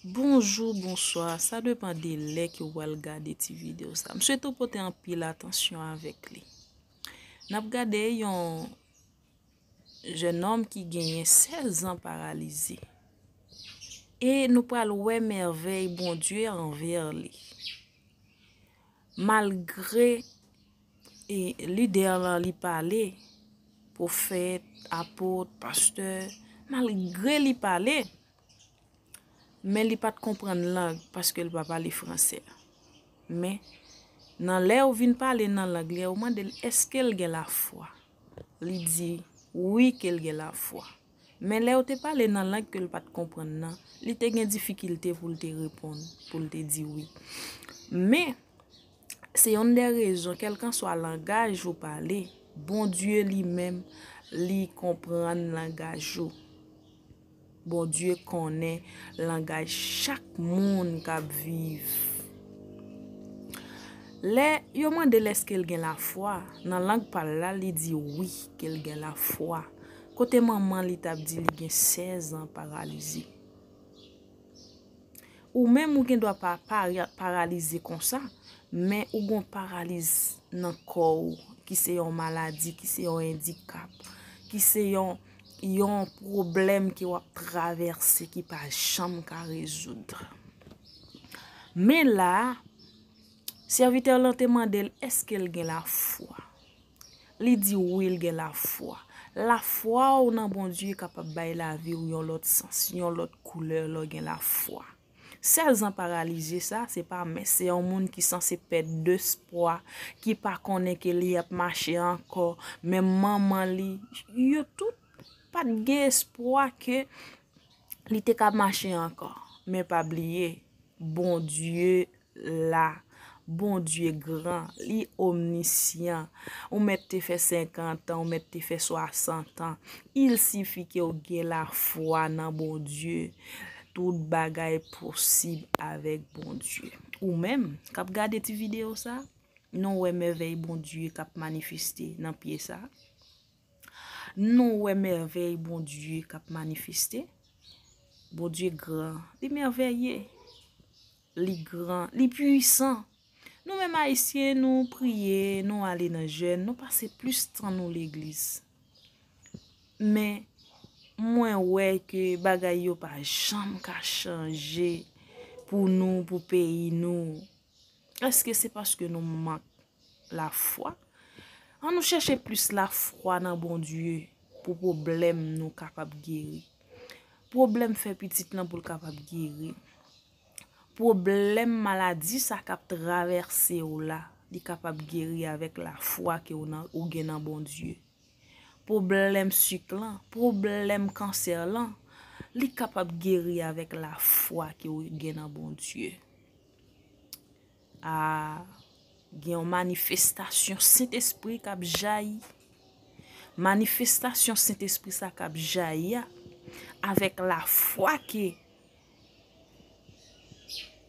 Bonjou, bonswa, sa depan de lè ke ou al gade ti video sa. M swete ou pote anpil atansyon avèk li. N ap gade yon jenòm ki genyen 16 an paralize. E nou pral wè mèvèy Bondye anvè li. Malgre. E lidè lan li pale, pwofèt, apot, pastè, malgre li pale, men li pat konprann lang paske li pa pale franse. Men, nan lè ou vin pale nan lang li a, ou mande l eske l gen lafwa. Li di, wi ke l gen lafwa. Men lè ou te pale nan lang ke l pat konprann nan, li te gen difikilte pou l te reponn, pou l te di wi. Men. Se yonn dè rezon kèlkanswa langaj ou pale, Bondye li menm li konprann langaj ou. Bondye konnen langaj chak moun k ap viv. Lè yo mande l èske l gen lafwa, nan lang pa l la, li di wi ke l gen lafwa. Kote manman li t ap di li gen sèzan paralize. Ou menm ou gendwa pa paralize konsa, men ou gon paraliz nan kò ou, ki se yon maladi, ki se yon endikap, ki se yon pwoblèm ki wap travèse, ki pa janm ka rezoud. Men la, serviteur lan te mandel, eske l gen la fwa? Li di wi l gen lafwa. Lafwa w nan Bondye kapab bay lavi w yon lòt sans, yon lòt koulè lè w gen lafwa. Sèzan paralize sa a se pa mens, se yon moun ki sanse pèd despwa, ki pa konnen ke li ap mache ankò, menm manman li, yo tout pa t gen espwa ke li te ka mache ankò. Men pa bliye, Bondye la Bondye gran, li omnisyan ou mèt te fè senkantan ou mèt te fè swasantan il sifi ke ou gen la fwa nan Bondye tout bagay posib avèk Bondye ou menm kap gade ti video sa nou wè mèvèy Bondye kap manifeste nan pye sa nou wè mèvèy Bondye kap manifeste Bondye gran li mèvèye. Li gran, li pwisan. Nou menm Ayisyen nou priye, nou ale nan jèn, nou pase plis tan nou legliz. Men, mwen wè ke bagay yo pa janm ka chanje pou nou, pou peyi nou. Eske se paske nou mank la fwa? An nou chèche plis la fwa nan bon Dye pou pwoblèm nou kapab geri. Pwoblèm fè pitit lan pou l kapab geri. Pwoblèm maladi sa kap travèse w la, li kapab geri avèk lafwa ke ou gen nan Bondye. Pwoblèm sik lan, pwoblèm kansè lan, li kapab geri avèk lafwa ke ou gen nan Bondye. A, gen yon manifestasyon Sentespri kap jayi. Manifestasyon Sentespri sa kap jayi a, avèk lafwa ke.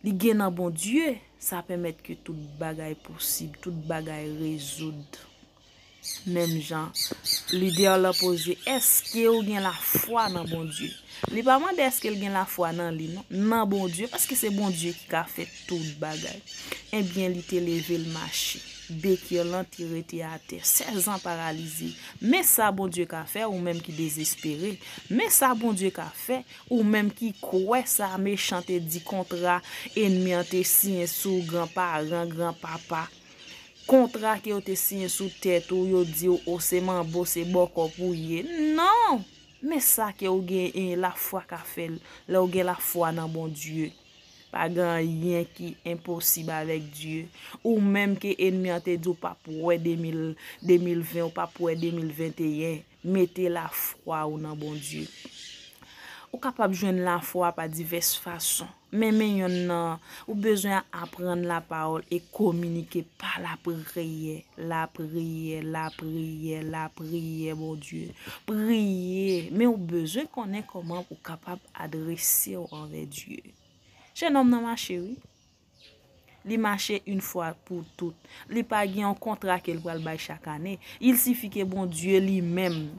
Li gen nan Bondye, sa pèmèt ke tout bagay posib, tout bagay rezoud. Menm jan lidè la poze, èske ou gen lafwa nan Bondye? Li pa mande èske l gen lafwa nan li non, nan Bondye, paske se Bondye ki ka fè tout bagay. Ebyen li te leve l mache, Bekir lan te rete atè, 16 an paralize. Men sa Bondye ka fè, ou menm ki dezespere. Men sa Bondye ka fè. Ou menm ki kwè sa mechan te di kontra enmi an te siyen sou gran paran, gran papa. Kontra ke yo te siyen sou tèt ou, yo di w o se manbo, se bòkò pou w ye. Non! Men sa ke w gen en la fwa ka fè l, lè w gen la fwa nan Bondye. Pa gen anyen ki enposib avèk Dye. Ou menm ke enmi an te di w pap wè 2020, ou pap wè 2021. Mete lafwa ou nan Bondye. Ou kapab jwenn lafwa pa divès fason. Men men yonn nan, ou bezwen aprann lapawòl e kominike pa lapriyè. Lapriyè, lapriyè, lapriyè Bondye. Priye, men ou bezwen konnen kòman ou kapab adrese ou anvè Dye. Jenòm nan mache wi. Li mache yn fwa pou tout. Li pa gen yon kontra ke l pral bay chak ane. Il sifi ke Bondye li menm,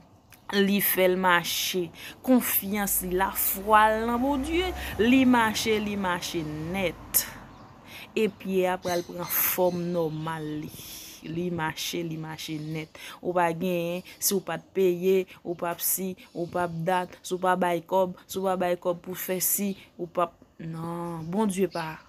li fè l mache. Konfyans li, lafwa l nan Bondye, li mache, li mache nèt. E pye a pral pran fòm nòmal li. Li mache, li mache nèt. Ou pa genyen, si w pa t peye, ou pa p si, ou pa p dat, si w pa bay kòb, si w pa bay kòb pou fè si, ou pa p. Non Bondye pa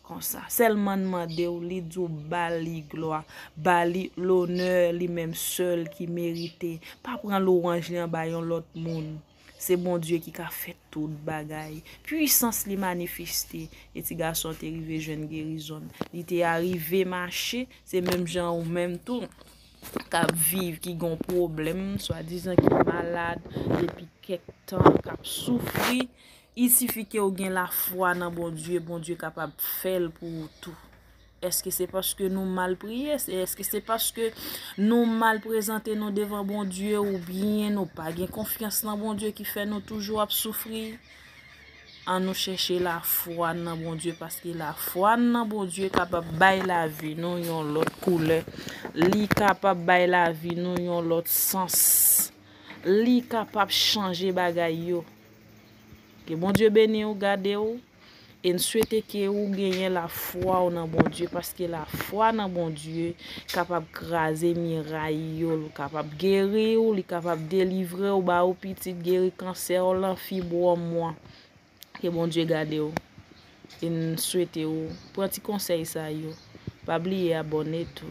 Konsa selman mandew li diw bali glwa bali lonè li menm sel ki merite pa pran louwanj li anba yon lot moun se Bondye ki ka fè tout bagay pwisans li manifiste e ti gason te rive jwenn gerizonn li te arive mache se menm jan ou menm tou kap viv ki gon pwoblèm swadizan ki malad depi kèk tan kap soufri. Il suffit ke ou gen la fwa nan Bondye, Bondye kapab fè l pou ou tou. Eske se paske nou mal priye, se eske se paske nou mal prezante nou devan Bondye ou byen nou pa gen konfyans nan Bondye ki fè nou toujou ap soufri? An nou chèche la fwa nan Bondye paske la fwa nan Bondye kapab bay la vi nou yon lòt koulè, li kapab bay la vi nou yon lòt sans, li kapab chanje bagay yo. Ke Bondye beni ou gade ou e n swete ke ou genyen la fwa ou nan Bondye paske la fwa nan Bondye kapab kraze miray yo l kapab geri ou li kapab delivre ou ba ou pitit geri kansè w lan fibwòm ou an ke Bondye gade ou e n swete ou pran ti konsèy sa yo pa bliye abòne tou.